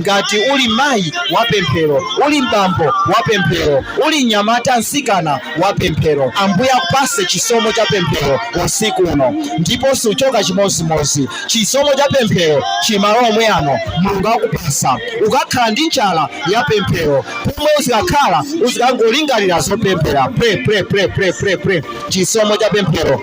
Ngati uli mayi wapemphero, uli m'bambo wapemphero, uli mnyamata, mtsikana wapemphero, Ambuye akupatse chisomo cha pemphero usiku uno, ndipo suchoka chimodzimodzi. Chisomo cha pemphero chili m'malo omwe ano, Mulungu akupatsa. Ukakhala ndi njala ya pemphero, pomwe uzikakhala uzikangolingalira zopemphera. Pray, pray, pray, pray, pray, pray. Chisomo cha pemphero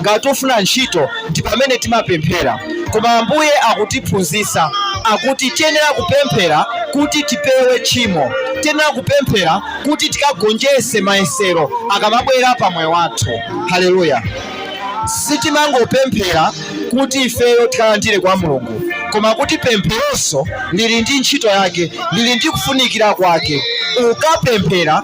ngati tufuna ntchito ndi pamene timapemphera koma ambuye akutiphunzitsa akuti tiyenera kupemphera kuti tipewe tchimo tiyenera kupemphera kuti tikagonjetse mayesero akamabwera pa moyo wathu haleluya sitimangopemphera kuti ifeyo tikalandire kwa mulungu koma kuti pempheronso lili ndi ntchito yake lili ndi kufunikira kwake ukapemphera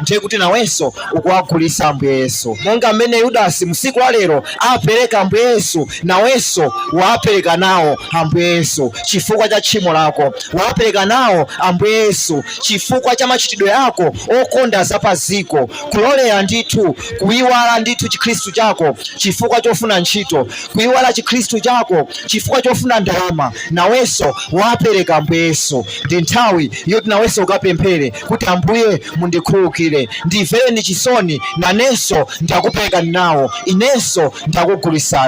ndiye kuti nawenso ukuwagulitsa ambuye yesu monga mmene yudasi m'tsiku la lero apereka ambuye yesu nawenso wapereka nawo ambuye yesu chifukwa cha tchimo lako wapereka nawo ambuye yesu chifukwa cha machitidwe ako okonda za pa dziko kulolera ndithu kuyiwala ndithu chikhristu chako chifukwa chofuna ntchito kuyiwala chikhristu chako chifukwa chofuna ndalama nawenso wapereka ambuye yesu ndi nthawi yoti nawenso ukapemphere kuti ambuye mundikhululukire ndimvereni chisoni nanenso ndakuperekani nawo inenso ndakugulitsani.